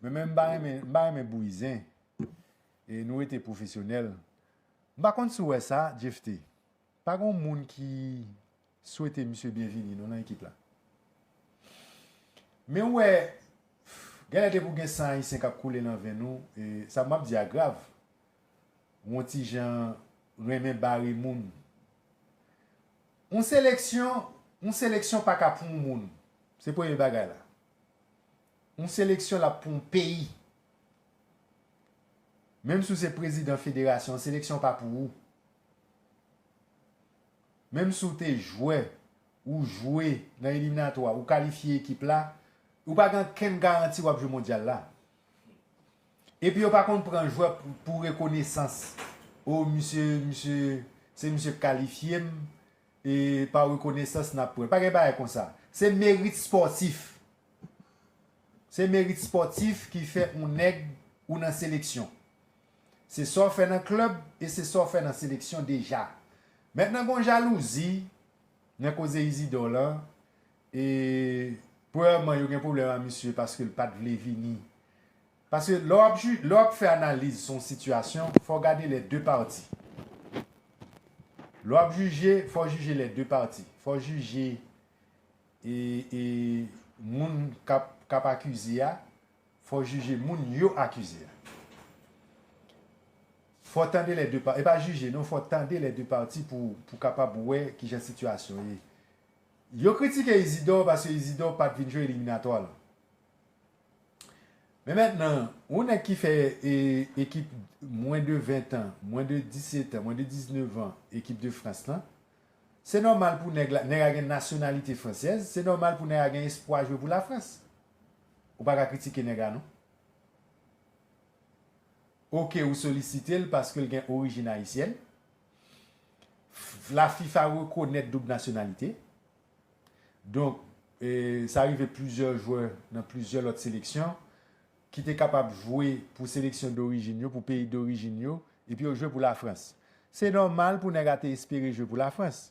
Mwen menm m pa renmen m pa renmen bouyi zen e nou rete pwofesyonèl. M pa konn si w wè sa Jephte, pa gen yon moun ki swete misye byenvini non nan ekip la. Men ou wè genlè depi w gen san ayisyen k ap koule nan venn ou, sa m ap di a grav, ou yon ti jan renmen bare moun. Yon seleksyon yon seleksyon pa ka pou yon moun, se premye bagay la. Yon seleksyon l ap pou yon peyi. Menm si w se prezidan federasyon, seleksyon pa pou ou. Menm si w te jwè, ou jwe nan eliminatwa, ou kalifye ekip la, ou pa gen ankenn garanti w ap jwe mondyal la. Epi yo pa konn pran jwè pou rekonesans. O misye, misye, se misye k kalifye m. e pa rekonesans nap pran pa gen bagay konsa se merit spòtif se merit spòtif ki fè on nèg ou nan seleksyon se sa w fè nan klèb e se sa w fè nan seleksyon deja mètnan gon jalouzi nan koze Izidò lan e premyèman yo gen pwoblèm a misye paske l pat vle vini Paske lè w ap ju, lè w ap fè analiz sou yon sitiyasyon, fò w gade lè de pati. Lè w ap jije, fò w jije lè de pati. Fò w jije e, e moun k ap, k ap akize a, fò w jije moun yo akize a. Fò w tande lè de pa, e pa jije non, fò w tande lè de pati pou w, pou w kapab wè ki jan sitiyasyon ye. Yo kritike Izidò paske Izidò pa t vin jwe eliminatwa lan. Men mentnan, yon nèg ki fè ekip mwen de 20 tan, mwen de 17 tan, mwen de 19 an ekip de Frans lan, se nòmal pou nèg la, nèg la gen nasyonalite fransèz, se nòmal pou nèg la gen espwa jwe pou Lafrans. Ou pa ka kritike nèg la non. Ok ou solisite l paske l gen orijin ayisyèn. La fifa rekonèt doub nasyonalite. Donk, sa rive plizyè jwè nan plizyè lòt seleksyon ki te kapab jwe pou seleksyon dorijin yo, pou peyi dorijin yo, epi yo jwe pou Lafrans. Se nòmal pou nèg a te espere jwe pou Lafrans.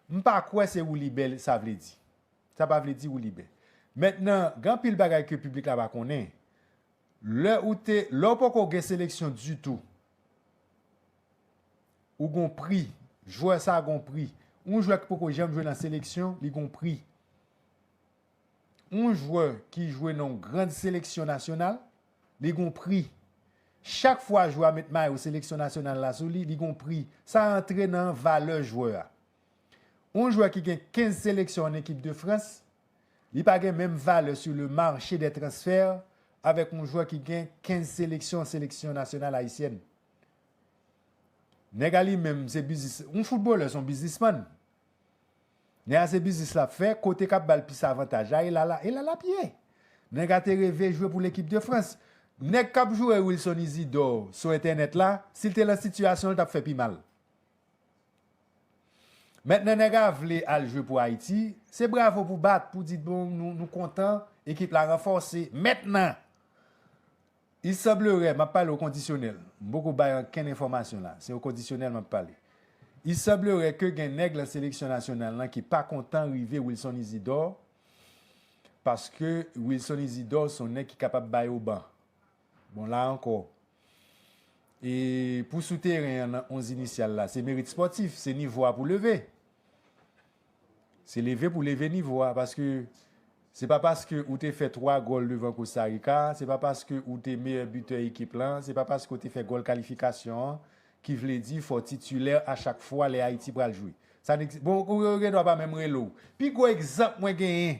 M pa kwè se woulibè sa vle di. Sa pa vle di woulibè. Mentnan, gen anpil bagay ke piblik la pa konnen. Lè ou te, lè ou poko gen seleksyon ditou, Ou gon pri. Jwè sa gon pri. Yon jwè ki poko janm jwe nan seleksyon, li gon pri. Yon jwè ki jwe nan yon grand seleksyon nasyonal, li gon pri. Chak fwa jwè a met mayo seleksyon nasyonal la sou li, li gon pri. Sa antre nan valè jwè a. Yon jwè ki gen 15 seleksyon an ekip de Frans, li pa gen menm valè sou le marche dè transfè avèk yon jwè ki gen 15 seleksyon an seleksyon nasyonal ayisyèn. Nèg a li menm se biznis, yon foutbolè son biznisman. Nèg a se biznis lap fè, kote kap bal plis avantaj la, e la la, e la lap ye. Nèg a te reve jwe pou lekip de Frans. Nèg kap joure Wilson Isidor sou entènèt la, sil te lan sitiyasyon li tap fè pi mal. Mentnan nèg a vle al jwe pou Ayiti, se bravo pou bat, pou di bon nou kontan, ekip la ranfòse, mentnan! Il semblerait, map pale o kondisyonèl, m poko bay ankenn enfòmasyon la, se o kondisyonèl map pale. Il semblerait ke gen nèg lan seleksyon nasyonal lan ki pa kontan rive Wilson Isidore, paske Wilson Isidore son nèg ki kapab bay o ban. Bon la ankò, e pou sou teren an nan 11 inisyal la, se merit spòtif, se nivo a pou leve. Se leve pou leve nivo a paske se pa paske ou te fè 3 gòl devan Kosta Rika, se pa paske ou te meyè bitè ekip lan, se pa paske ou te fè gòl kalifikasyon an ki vle di fò w titulè a chak fwa lè Ayiti pral jwe. Sa n bon ou gen dwa pa menm rele w. Pi gwo egzanp mwen genyen.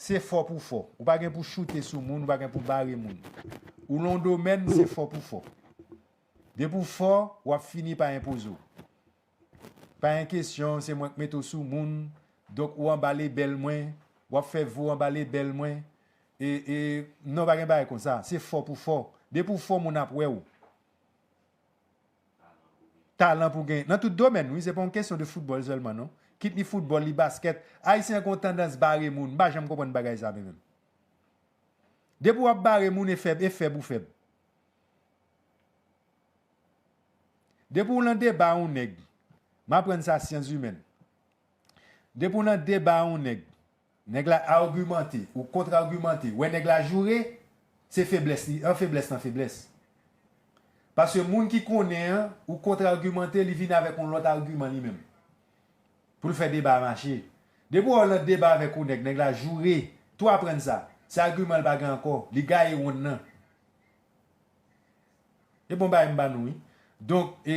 se fò pou fò. Ou pa gen pou choute sou moun, ou pa gen pou bare moun. Ou lan yon domèn, se fò pou fò. Depi w fò, w ap fini pa enpoze w. Pa gen kesyon, se mwen k mete w sou moun, donk ou anba lebèl mwen, w ap fè vi w anba lebèl mwen. Non, pa gen bagay konsa. Se fò pou fò. Depi w fò, moun ap wè w. Talan pou gen nan tout domèn wi se pa yon kesyon de foutbòl sèlman non kit li foutbòl li baskèt ayisyen gon tandans bare moun m pa janm konprann bagay sa mwen menm depi wap bare moun e fèb e fèb ou fèb depi w lan deba a yon nèg m aprann sa syanzimèn depi w lan deba a yon nèg Nèg la argumante, ou contre argumante, wè nèg la joure, se feblès li an feblès nan feblès. Paske moun ki konnen an, ou contre argumante, li vin avèk yon lòt arguman li menm. Pou l fè deba a mache. Depi wè w nan deba avèk yon nèg, nèg la joure, tou aprann sa, se arguman l pa gen ankò, li gaye wonn nan. E bon bagay m ba nou wi. Donk, e,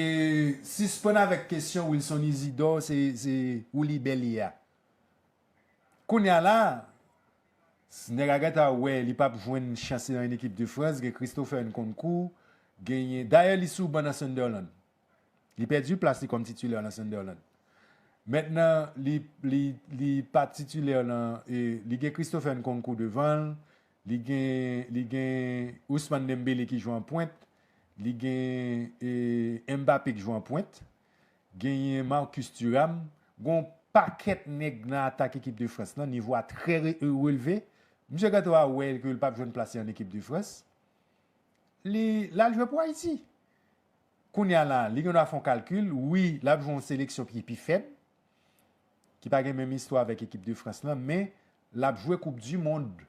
sispann avèk kesyon Wilson Isidore se, se, ou libè li ye a. Kounya la, s nèg Agatha wè li pap jwenn chans li nan yn ekip de Frans, gen Christopher Nkounkou, genyen, dayè li sou ban nan Sunderland. Li pèdi plas li kòm titulè nan Sunderland. Mentnan li li li pa titulè nan e li gen Christopher Nkounkou devan l, li gen li gen Ousmane Dembele ki jwe an pwent, li gen e Mbappé k jwe an pwent. Genyen Marcus Thuram, gen yon pakèt nèg nan atak ekip de Frans lan, nivo a trè relve. Misye gentan va wè ke li pap jwenn plas li an ekip de Frans. Li, lal jwe pou Ayiti. Kounya la, li gendwa fè yon kalkil, wi, lap jwe yon seleksyon ki pi fèb, ki pa gen menm istwa avèk ekip de Frans lan, men, lap jwe koup di mond.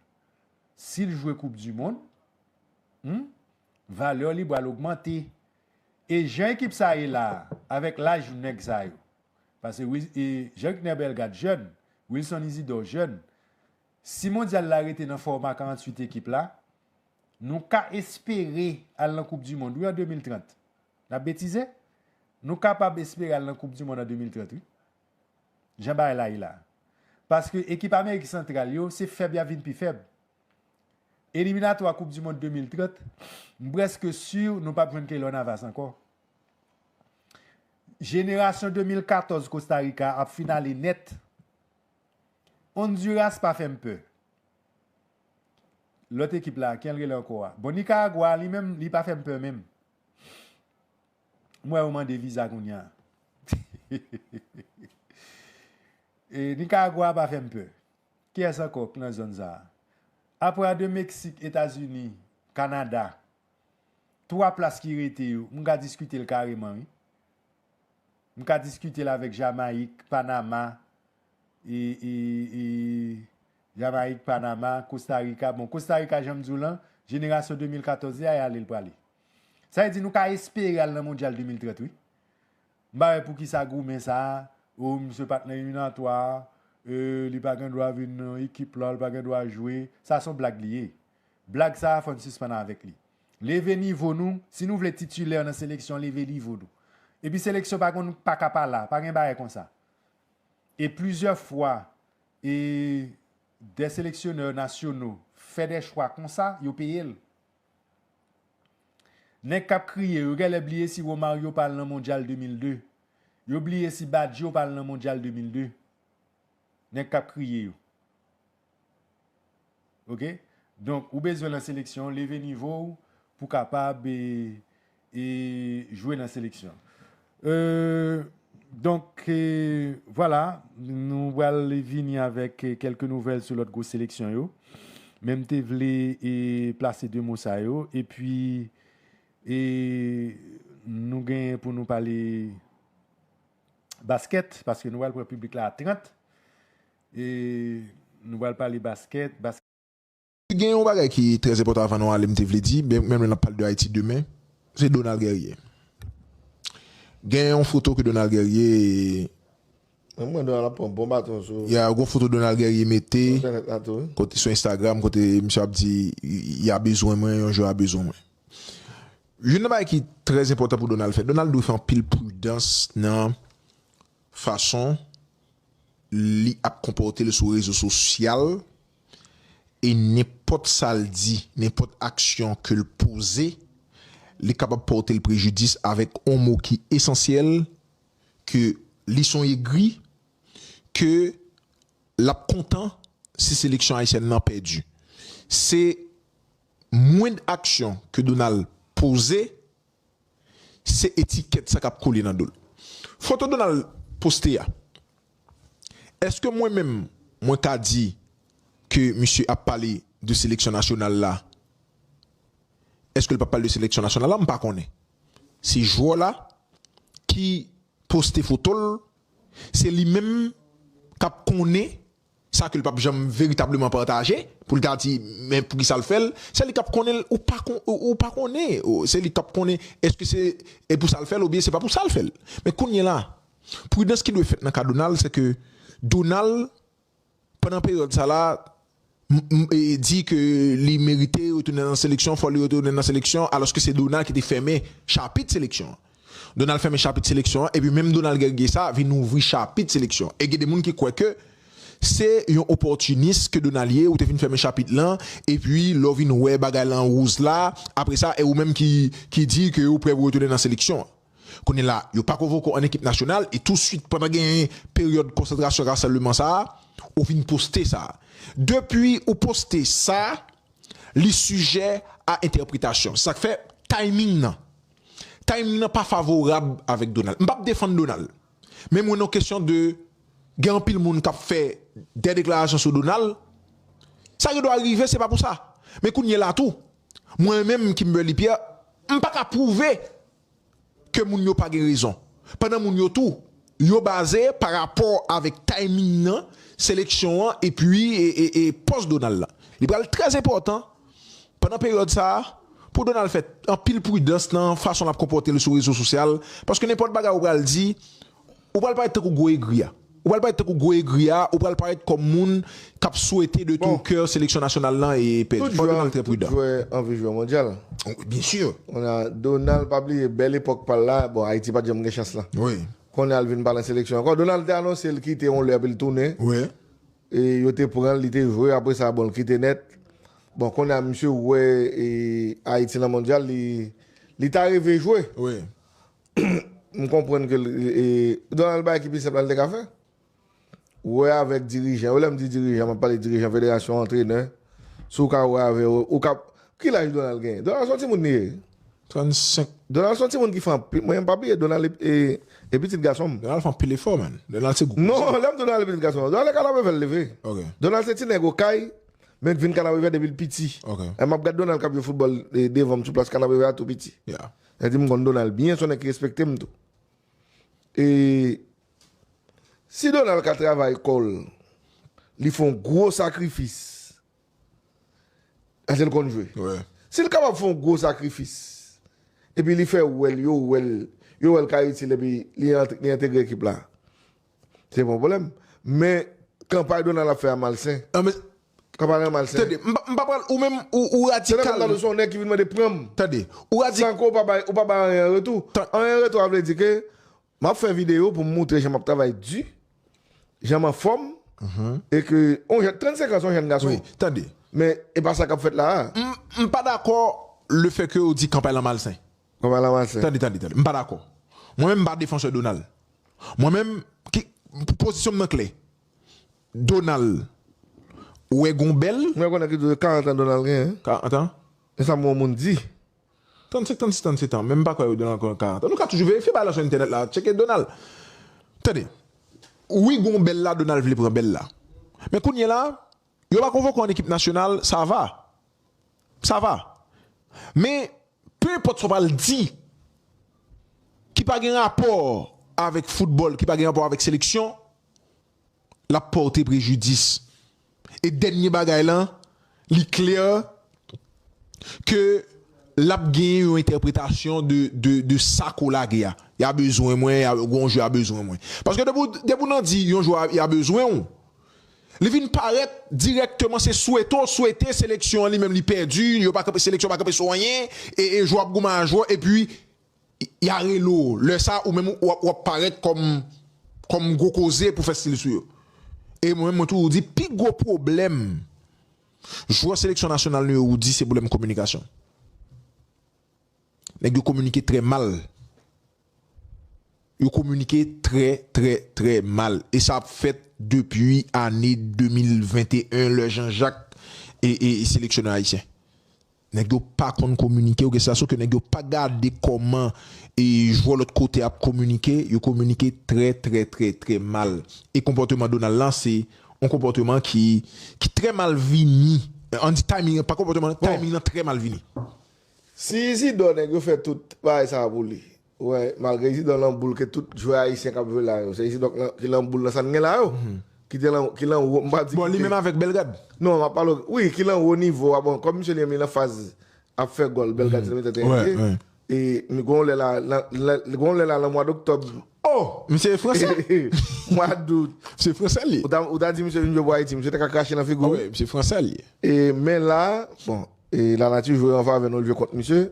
Sil jwe koup di mond, humm, valè li bal ogmante. E jan ekip sa ye la avèk laj nèg sa yo pase Jean Ricner Bellegarde jèn, Wilson Isidor jèn si mondyal la rete nan fòma 48 ekip la nou ka espere al nan koup di mond wi an 2030 nap betize? nou kapab espere al nan koup di mond an 2030 wi jan bagay la ye la paske ekip amerik santral yo se fèb yap vin pi fèb. Eliminatwa koup du mond 2030 m preske sur nou pap jwenn Keylor Navas ankò. Jenerasyon 2014 Costa Rica ap finale nèt. Honduras pa fèm pè. Lòt ekip la kijan l rele ankò a? Bon Nicaragua li menm li pa fèm pè menm. M wè yo mande viza kounya. Nicaragua pa fèm pè. Kiyès ankò k nan zòn sa a? Apre a 2 Meksik, Etazini, Kanada, 3 plas ki rete yo, m ka diskite l kareman wi. M ka diskite l avèk Jamayik, Panama, e, e, e, Jamayik, Panama, Kosta Rika, bon Kosta Rika jan m di w lan, jenerasyon 2014 li a y ale l prale. Sa vle di nou ka espere al nan mondyal 2030 wi. M pa wè poukisa goumen sa a, oh misye pat nan eliminatwa, euh li pa gen dwa vin nan ekip la, li pa gen dwa jwe, sa son blag li ye. Blag sa a fò n sispann avèk li. Leve nivo nou, si nou vle titulaire nan seleksyon leve nivo nou. Epi seleksyon pa konn paka pa la, pa gen bagay konsa. E plizyè fwa e dè seleksiyonè nasyono fè dè chwa konsa, yo peye l. Nèg kap kriye yo gèlè bliye si Romario pa al nan mondyal 2002 yo bliye si Baggio pa al nan mondyal 2002 nèg kap kriye yo ok donk ou bezwen nan seleksyon leve nivow pou kapab e jwe nan seleksyon donk vwala nou pral vini avèk kèlke nouvèl sou lòt gwo seleksyon yo men m te vle plase 2 mo sa yo epi nou genyen pou nou pale baskèt paske nou pral pran piblik la a 30 nou pral pale baskèt. Gen yon bagay ki trè enpòtan avan nou ale m te vle di, byen menm lè n ap pale de Ayiti demen, se Donald Guerrier. Gen yon foto ke Donald Guerrier. Mwen wè Donald ap pran bon baton sou. Ya, gen yon foto Donald Guerrier mete. Sou entènèt la tou wi. Kote, sou Instagram, kote misye ap di, Ya bezwen mwen, yon jou ya bezwen mwen. Youn nan bagay ki trè enpòtan pou Donald fè, Donald dwe fè anpil pridans nan fason li ap konpòte l sou rezo sosyal. e nenpòt sa l di, nenpòt aksyon ke l poze, li kapab pòte l prejidis avèk on mo ki esansyèl, ke li son egri, ke l ap kontan si seleksyon ayisyèn nan pèdi. Se mwend aksyon ke Donald poze se etikèt sa kap kole nan dol. Foto Donald poste a eske mwen menm mwen ka di ke misye ap pale de seleksyon nasyonal la eskel pap pale de seleksyon nasyonal la mpa konnen se jwè la ki poste fotol se li menm kap konnen sa ke l pap janm veritableman pataje pou l ta di men poukisa l fè l se li kap konnen l ou pa ou pa konnen se li kap konnen èske se e pou sa l fè l oubyen se pa pou sa l fè l men kounye la pridans ki dwe fèt nan ka Donald se ke Donald pandan peryòd sa la m e di ke li merite retounen nan seleksyon fò li retounen nan seleksyon alòske se Donald ki te fèmen chapit seleksyon an. Donald fèmen chapit seleksyon an epi menm Donald Guergué sa a vin ouvri chapit seleksyon an. E gen de moun ki kwè ke se yon opòtinis ke Donald ye, ou te fin fèmen chapit lan epi lè w vin wè bagay lan wouzla apre sa e ou menm ki di ke ou prè pou retounen nan seleksyon an. Kounye la yo pa konvoke w an ekip nasyonal e tou swit pandan gen peryòd konsantrasyon rasanbleman sa a ou vin poste sa. Depi ou poste sa li sijè a entèpretasyon. Se sa k fè timing lan. Timing nan pa favorab avèk Donald. M pap defann Donald. Men mwen nan kesyon de gen anpil moun k ap fè dè deklarasyon sou Donald. Sa gen dwa rive se pa pou sa. Men kounye la tou, mwen menm Kimberly Pierre, m pa ka pwouve ke moun yo pa gen rezon. Pandan moun yo tou. Yo baze pa rapò avèk timing nan seleksyon an epi pòs Donald la. Li pral trè enpòtan pandan peryòd sa a pou Donald fè anpil pridans nan fason l ap konpòte l sou rezo sosyal paske nenpòt bagay ou pral di ou pral parèt tankou gwo egri a. Ou pral parèt tankou gwo egri a, ou pral parèt kòm moun kap swete de tout kè seleksyon nasyonal lan pèdi. Fò Donald trè pridan. Tout jwè anvi jwè mondyal. Byen sur. Konnya Donald pa bliye bèl epòk pal la, bon Ayiti pat janm gen chans lan. Wi. Konnya li vin pa nan seleksyon ankò. Donald te anonse li kite yon lè epi li tounen. Wi. E yo te pran li te jwe apre sa bon li kite nèt. Bon konnya misye wè Ayiti nan mondyal li li ta reve jwe. Wi. M konprann ke Donald bay ki pi senp la li te ka fè. wè avèk dirijan yo, lè m di dirijan m ap pale dirijan federasyon, antrenè, si w ka wè avè yo, ou ka, ki laj Donald genyen? Donald son timoun li ye. 35. Donald son timoun ki fè anpil, mwen pa bliye Donald e, e pitit gason m. Donald fè anpil efò man, Donald se gwo. Non, lè m di w Donald e pitit gason m, Donald e Kanapevè l leve. Ok. Donald se ti nèg Okay, men vin Kanapevè depi l piti. Ok. Lè m ap gad Donald k ap jwe foutbòl devan m sou plas Kanapevè a tou piti. Yeah. Sa vle di m konn Donald byen, son nèg ki respekte m tou. E Si Donald ka travay kòl li fon gwo sakrifis paskel konn jwe sil kapab fon gwo sakrifis epi li fè wèl yo wèl yo wèl ka itil epi li entegre ekip la se pa yon pwoblèm men kanpay Donald ap fè a malsen kanpay lan malsen tande m pa pral ou menm ou radikal se nan menm tan son nèg ki vin mande pranm tande ou radikal san ke ou pa bay anyen an retou anyen an retou a vle di ke Map fè video pou m moutre jan map travay di, jan m anfòm, e ke on jèn 35 ans on jèn gason. Wi, tande. Men e pa sa kap fèt la a. M pa dakò le fè ke ou di kanpay la malsen. Kanpay la malsen. Tande, tande, tande. M pa dakò. Mwen menm m pa defansè Donald. Mwen menm, ki, pozisyon m nan klè. Donald wè gon bèl. M vle konnen ki 40 ans Donald genyen. 40 ans? E sa m wè on moun di. 35 36 37 ans men m pa kwè yo nan 40 ans nou ka toujou verifye bagay la sou entènèt la tcheke Donald tande wi gon bèl la Donald vle pran bèl la men kounyela yo pa konvoke w an ekip nasyonal sa va sa va men pe enpòt sa w pral di ki pa gen rapò avèk foutbòl ki pa gen rapò avèk seleksyon l ap pòte prejidis. E dènye bagay lan, li klè ke l ap genyen yon entèpretasyon de sa ke w lage a. Ya bezwen mwen, ya gen yon jou ya bezwen mwen. Paske depi w nan di yon jou ya bezwen w, li vin parèt dirèkteman se swete w swete seleksyon an li menm li pèdi, seleksyon pa kanpe sou anyen, e jwè w ap goumen a jwè w epi ya rele w lè sa ou menm w ap parèt kòm kòm gwo koze pou fè stil sou yo e mwen menm mwen toujou di pi gwo pwoblèm jwè seleksyon nasyonal nou yo ou di se pwoblèm kominikasyon nèg yo kominike trè mal yo kominike trè trè trè mal e sa ap fèt depi ane 2021 lè Jean Jacques e e seleksyonè ayisyen. Nèg yo pa konn kominike ok sa so ke nèg yo pa gade kòman e jwè lòt kote ap kominike yo kominike trè trè trè trè mal e konpòteman Donald lan se yon konpòteman ki ki trè mal vini an di timing lan pa konpòteman timing lan trè mal vini. Si Izidò nèg yo fè tout bagay sa pou li. Wè malgre Isidor lan boul ke tout jwè ayisyen kap jwe la yo se Isidor ki lan boul nan sa n gen la yo ki te lan ki lan wo m pa di Bon li menm avèk Bellegarde Non map pale wi ki lan wo nivo a bon kòm misye li menm li lan faz ap fè gòl Bellegarde se te mete tèt li e e m gon lè la lan gon lè la lan mwa doktòb Oh misye e fransè Mwa dout Misye fransè li ye Ou ta di misye vin jwe pou Ayiti misye te ka krache lan figu w Misye fransè li ye e men la bon e la nati jwe an favè nou l jwe kont misye.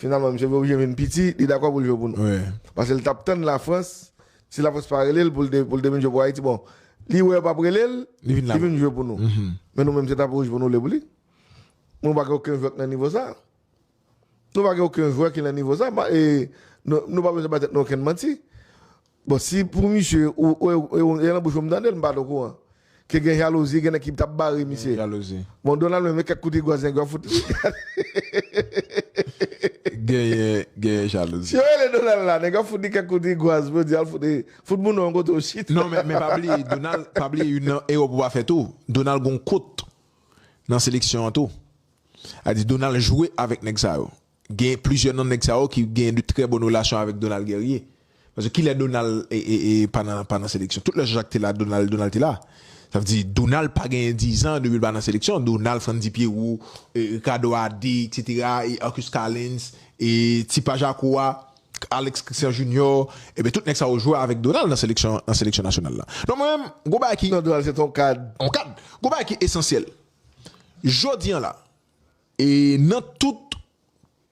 Finalman, misye vin oblije vin piti, li dakò pou l jwe pou nou. Pase l t ap tann Lafrans, si Lafrans pa rele l pou l te vin jwe pou Ayiti, bon, li wè yo p ap rele l, li vin jwe pou nou. Men nou menm se tapon wouj pou nou le pou li. Nou pa gen oken jwè k nan nivo sa. Nou pa gen oken jwè ki nan nivo sa. Nou pa bezwen bay tèt nou okenn manti. Bon si pou misye ou e lan bouch ou m tande l m pat o kouran ke gen jalouzi gen nèg ki tap bare misye bon Donald menm e kèk kout igò zenglen w fout li genyen jalouzi si yo rele Donald la nèg yo ap fout li kèk kout igwaz pou yo di al fout e fout moun nan yon kote ou chita non men pa bliye Donald pa bliye youn nan erè ou pa fè tou Donald gon kot nan seleksyon an tou sa vle di Donald jwe avèk nèg sa yo Gen plizyè nan nèg sa yo ki genyen de trè bòn relasyon avèk Donald Guerrier. Paske kilè Donald pa nan pa nan seleksyon? Tout lè Jean Jacques te la Donald Donald te la. Sa vle di Donald pa genyen dizan depi l pa nan seleksyon. Donald, Frantzy Pierrot, Ricardo Adé eksetera, Arcus Calens, ti pa Jacko a, Alex Christian Junior, ebyen tout nèg sa yo jwe avèk Donald nan seleksyon nan seleksyon nasyonal la. Donk mwen menm gon bagay ki. Non Donald se te yon kad. Yon kad. Gon bagay ki esansyèl. Jodi an la, E nan tout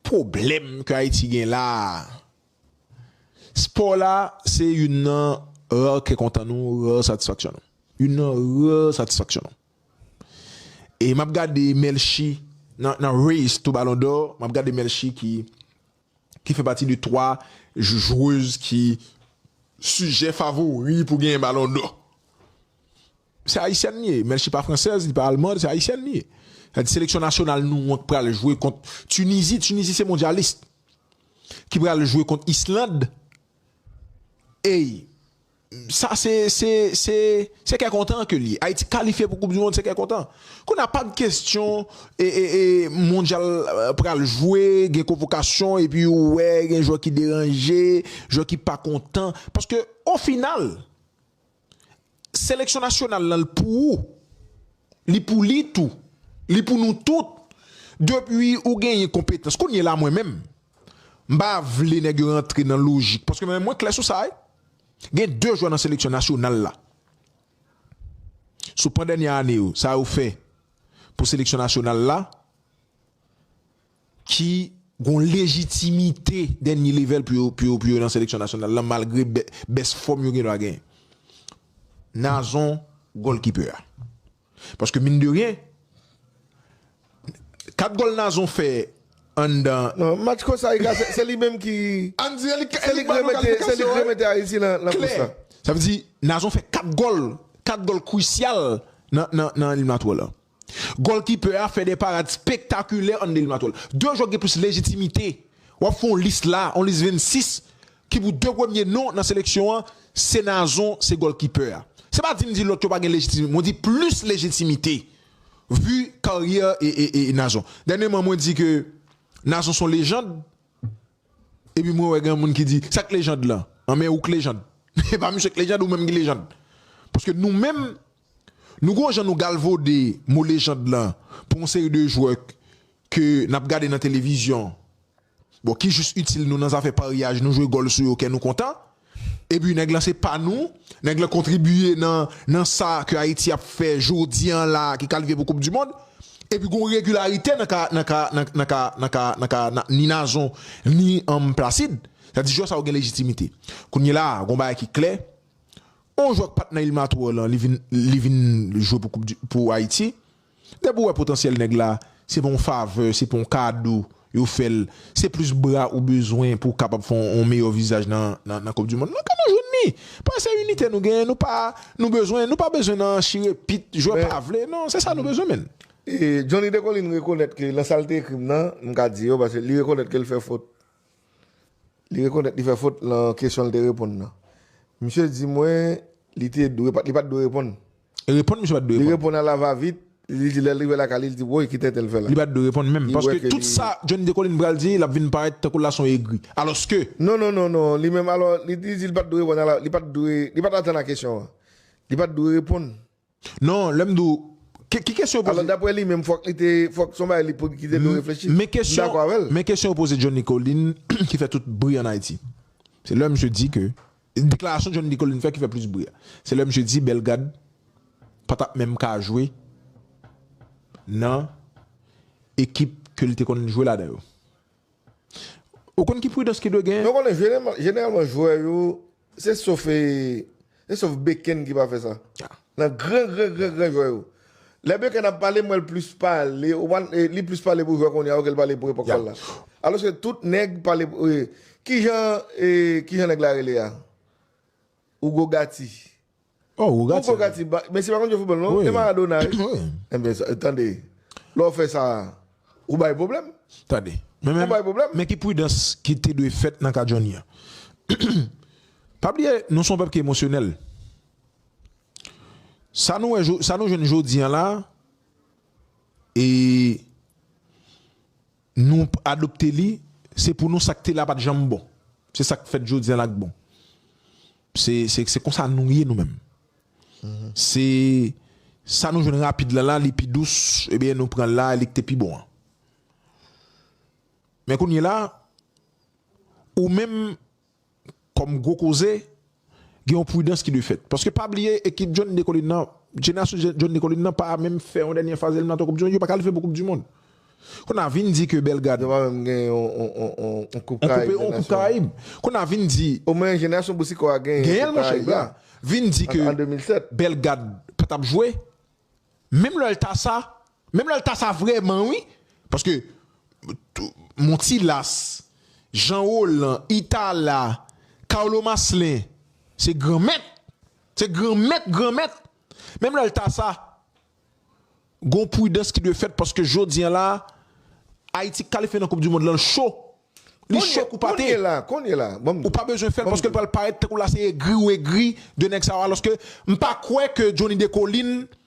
pwoblèm ke Ayiti gen la a, spò la se youn nan rare kè kontan nou, rare satisfaksyon nou. Youn nan rare satisfaksyon nou. E m ap gade Melchi nan nan race to ballon d'or, m ap gade Melchi ki ki fè pati de 3 jwez ki sijè favori pou genyen ballon d'or. Se ayisyèn li ye, menl se pa fransèz, li pa almand, se ayisyèn li ye. Sa di seleksyon nasyonal nou an ki pral jwe kont Tunisie, Tunisie se mondialist ki pral jwe kont Island ey sa se se se se kè kontan ke li ye. Ayiti kalifye pou koup du mond se kè kontan. Kounye a pap kestyon e e e mondyal pral jwe gen konvokasyon epi ou wè gen jwè ki deranje, jwè ki pa kontan paske o final Seleksyon nasyonal lan l pou ou, li pou li tou, li pou nou tout. Depi ou genyen konpetans, kounye la mwen menm, m pa vle nèg yo rantre nan lojik paske mwen menm mwen klè sou sa wi. Gen 2 jwè nan seleksyon nasyonal la, sou pandènye ane yo, sa yo fè pou seleksyon nasyonal la. ki gon lejitimite dènye level pou yo pou yo nan seleksyon nasyonal lan malgre bès fòm yo gendwa genyen. Nazon gòlkipè a. Paske min de ryen 4 gòl Nazon fè anndan. Non match Kosta Rika se li menm ki Ann di se li se li k remete se li k remete Ayiti nan nan kous la. Sa vle di Nazon fè 4 gòl 4 gòl krisyal nan nan eliminatwa lan. Gòlkipè a fè 2 parad spektakilè an 2 eliminatwa. 2 jwè ki gen plis lejitimite. W ap fè yon lis la, yon lis 26 ki pou 2 premye non nan seleksyon an, se Nazon, se gòlkipè a. Se pa di m di lòt yo pa gen lejitimite, mwen di plis lejitimite vu karyè Nazon. Dènyeman mwen di ke Nazon se yon lejand epi mwen wè gen moun ki di sa k lejand lan? An men ou k lejand. E pa misye k lejand ou menm ki lejand. Paske nou menm Nou gon jan nou galvode mo lejand lan pou yon seri de jwè ke nap gade nan televizyon bon ki jis itil nou nan zafè paryaj nou jwe gòl sou yo kè nou kontan epi nèg lan se pa nou nèg lan kontribiye nan nan sa ke Ayiti ap fè jodi an la ki kalifye pou koup di mond epi gon regilarite nan ka nan ka nan nan ka nan ka nan ka ni Nazon ni Placide sa di jwè sa yo gen lejitimite kounyela gon bagay ki klè On jwè k pat nan Ilmatour lan li vin li vin jwe pou koup du pou Ayiti. Depi ou wè potansyèl nèg la, se pa on favè, se pa on kado yo fè l, se plis bra ou bezwen pou w kapab fè on meyè vizaj nan nan koup du mond lan ke nou jwenn li. Paske se inite nou genyen, nou pa nou bezwen nou pa bezwen nan chire pit jwè pa vle non, se sa nou bezwen menn. Johnny Decolin rekonèt ke lan sa l te ekri m nan, m ka di yo paske li rekonèt ke l fè fot. Li rekonèt li fè fot lan kesyon li te reponn nan. Misye di mwen li te dwe li pat dwe reponn. Reponn misye pat dwe reponn. Li reponn a la va vit, li di lè l rive lakay li, li di woy ki tenten l fè la. Li pat dwe reponn menm. Paske tout sa John Decoline pral di lap vin parèt tankou l la son egri. Alòske. Non non non non li menm alò li di li pat dwe reponn a la li pat dwe li pat atann a kesyon an. Li pat dwe reponn. Non, lè m di w, ki kesyon yo poze. Alò daprè li menm fòk li te, fòk son bagay li pou ki te dwe reflechi. M dakò avè l. Men kesyon yo poze John Nicolin ki fè tout bri an Ayiti. Se lè misye di ke, deklarasyon John Nicolin fè ki fè plis bri a. Se lè misye di Bellegarde pa t ap menm ka jwe nan ekip ke li te konn jwe ladan yo. Ou konn ki pridans ki dwe genyen? Men w konnen jeneralman jwè yo. Se sof e, se sof Beken ki pa fè sa. Nan gran gran gran gran jwè yo. Lè Beken ap pale, m wè l plis pale, ou pa, li plis pale pou jwè kounye a yo ke l pale pou epòk pa l la. Alòske tout nèg pale pou, kijan, kijan nèg la rele a? Hugo Gatti. Oh Hugo Gatti. Hugo Gatti ba, mesye pa konn jwe football non, e Maradona wi. Wi. Enben sa, tande, lè w fè sa, ou bay pwoblèm. Tande, men men, Ou bay pwoblèm. men ki pridans ki te dwe fèt nan ka Johnny an. Pa bliye, nou son pèp ki emosyonèl. Sa nou wè jo, sa nou jwenn jodi an la, e. Nou p adopte li, se pou nou sa k te la pa t janm bon. Se sa k fèt jodi a la k bon. Se se konsa nou ye nou menm. Se sa nou jwenn rapid la la li pi dous ebyen nou pran la li k te pi bon an. Men kounyela ou menm Kòm gwo koze, gen yon pridans ki dwe fèt. Paske pa bliye ekip John Decolin nan, jenerasyon John Decolin nan pa menm fè yon dènye faz eliminatwa koup dimonn, yo pa kalifye pou koup dimonn. Kounye a vin di ke Belgad. Yo pa menm gen yon koup karayib dè nasyon. Yon koup karayib. Kounye a vin di. Omen jenerasyon Boucicaut a gen yon koup karayib la. Vin di ke Belgad pa tap jwe. Menm lè l ta sa, Menm lè l ta sa vrèman wi paske montilas jean roland itala carlo maslin se gran mèt se gran mèt gran mèt menm lè l ta sa gon pridans ki dwe fèt paske jodi an la ayiti k kalifye nan koup di mond lan l cho li cho kou pate ou pa bezwen fè l paske l pral parèt tankou la se egri ou egri de nèg sa yo alòske m pa kwè ke jhonny decolin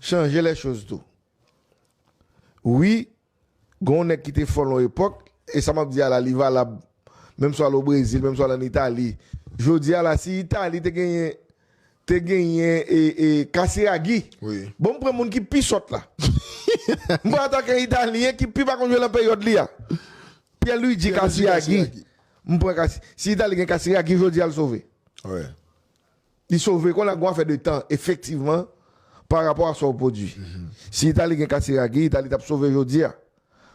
chanje lè choz tou wi gonw nèg kite fòl yon epòk e sa map di a la li valab menm si w al o brezil menm si w al an itali jodi a la si itali te genyen te genyen e kasiragi bon m pran moun ki pi sòt la m pran atakan italyen ki pi pa konn jwe lan peryòd li a pyè luidji kasiyagi m pran kasi si itali gen kasiragi jodi a l sove Li sove konn ak gon afè de tan efektivman pa rapò a sa ou pwodwi. Si Itali gen Casiraghi, Itali tap sove jodi a.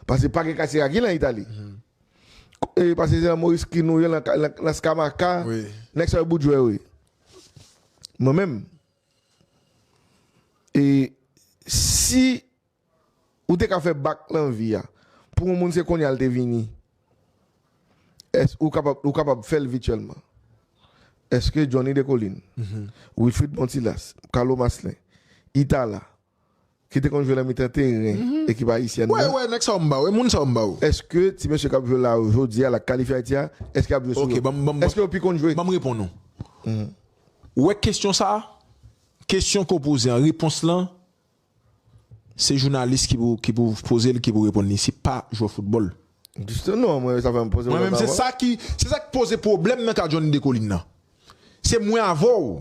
Pase pa gen Casiraghi lan Itali. E pase se lan Moris Kin ou ye lan lan Scamacca, nèg sa yo bout jwè wi. Mwen menm e si Ou te ka fè bak nan vi a. Pou yon moun se kounye a l te vini. Èske ou kapab ou kapab fè l vityèlman? Èske Johnny Descollines, Wilfrid Bontilas, Carlo Maslin, Itala, ki te konn jwe nan mitan teren ekip ayisyèn nan, èske ti mesye k ap jwe la yo jodi a l ak kalifye Ayiti a, èske y ap jwe sou yo? Èske yo pi konn jwe? Ou wè kesyon sa a, kesyon ke w poze an, repons lan Se jounalis ki pou ki pou poze l ki pou reponn li se pa jwè foutbòl. Jisteman mwen sa fèm poze w la pawòl. Se sa ki poze pwoblèm nan ka Johnny Descollines nan. Se mwen avè w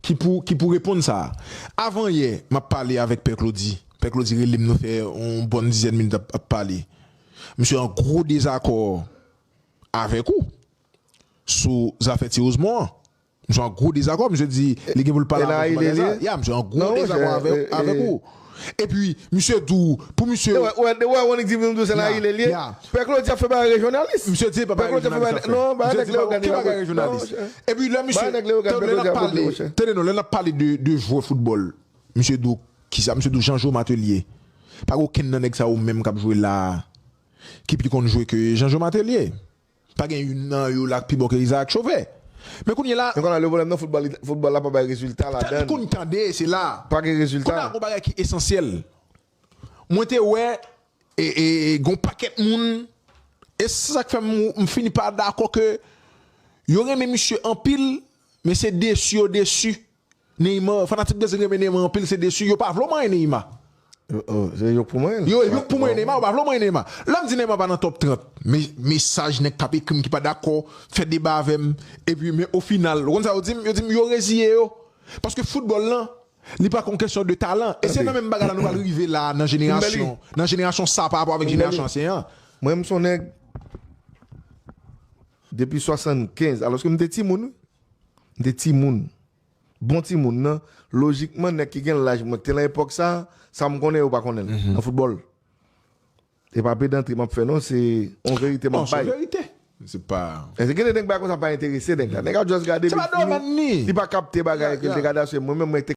ki pou ki pou reponn sa. Avan yè m ap pale avèk Pè Klodi, Pè Klodi rele m nou fè yon bòn dizèn minit ap ap pale. Misye an gwo dezakò avèk ou sou zafè Ti Osmon an. Msye an gwo dezakò, msye di li gen pou l pale avè w sou bagay sa. Ya, msye an gwo dezakò avèk ou. Epi, msye di w pou msye. Ou wè, ou wè Wonick di vin di w se nan Ile l ye? Pè Klodi ap fè bagay rejyonalis. Msye di se pa bagay rejyonalis l ap fè. Non, bagay nèg Leyogàn yo. Ki bagay rejyonalis? Epi lè msye. Bagay nèg Leyogàn yo. Lè n ap pale, tande non, lè n ap pale de jwè foutbòl, msye di w ki sa? Msye di w Janjo Matelye. Pa gen okenn nan nèg sa yo menm k ap jwe la a ki pi konn jwe ke Janjo Matelye. Pa gen youn nan yo la k pi bon ke Isaac Chauve. Men kounye la. Men kounye la le pwoblèm nan foutbòl foutbòl la pa bay rezilta ladan l. Kounye tande se la. Pa gen rezilta. Kounye la gon bagay ki esansyèl. Mwen te wè gon pakèt moun e se sa k fè m fini pa dakò ke yo renmen misye anpil men se desu yo desu. Neymar fanatik brezil renmen Neymar anpil se desu yo pa vle w manyen Neymar. Se yo k pou manyen l. Yo yo k pou manyen Neymar yo pa vle w manyen Neymar. Lèm di Neymar pa nan top 30 me mesaj nèg kap ekrim ki pa dakò fè deba avèm epi men o final ou konn sa yo dim yo dim yo reziye yo paske foutbòl lan li pa k yon kesyon de talan e se nan menm bagay la nou pral rive la nan jenerasyon nan jenerasyon sa parapò avèk jenerasyon ansyen an. Mwen m son nèg depi 75 alòske m te timoun wi. M te timoun. Bon timoun nan, lojikman nèg ki gen laj mwen ki te nan epòk sa, sa m konnen yo pa konnen l nan foutbòl. E pa pedantri m ap fè non, se yon verite m ap bay. Non, se yon verite. Se pa. Èske gen de nèg bagay konsa pa enterese nèg la? Nèg a just gade li fini, li pa kapte bagay ke l te gade a, se mwen menm mwen te.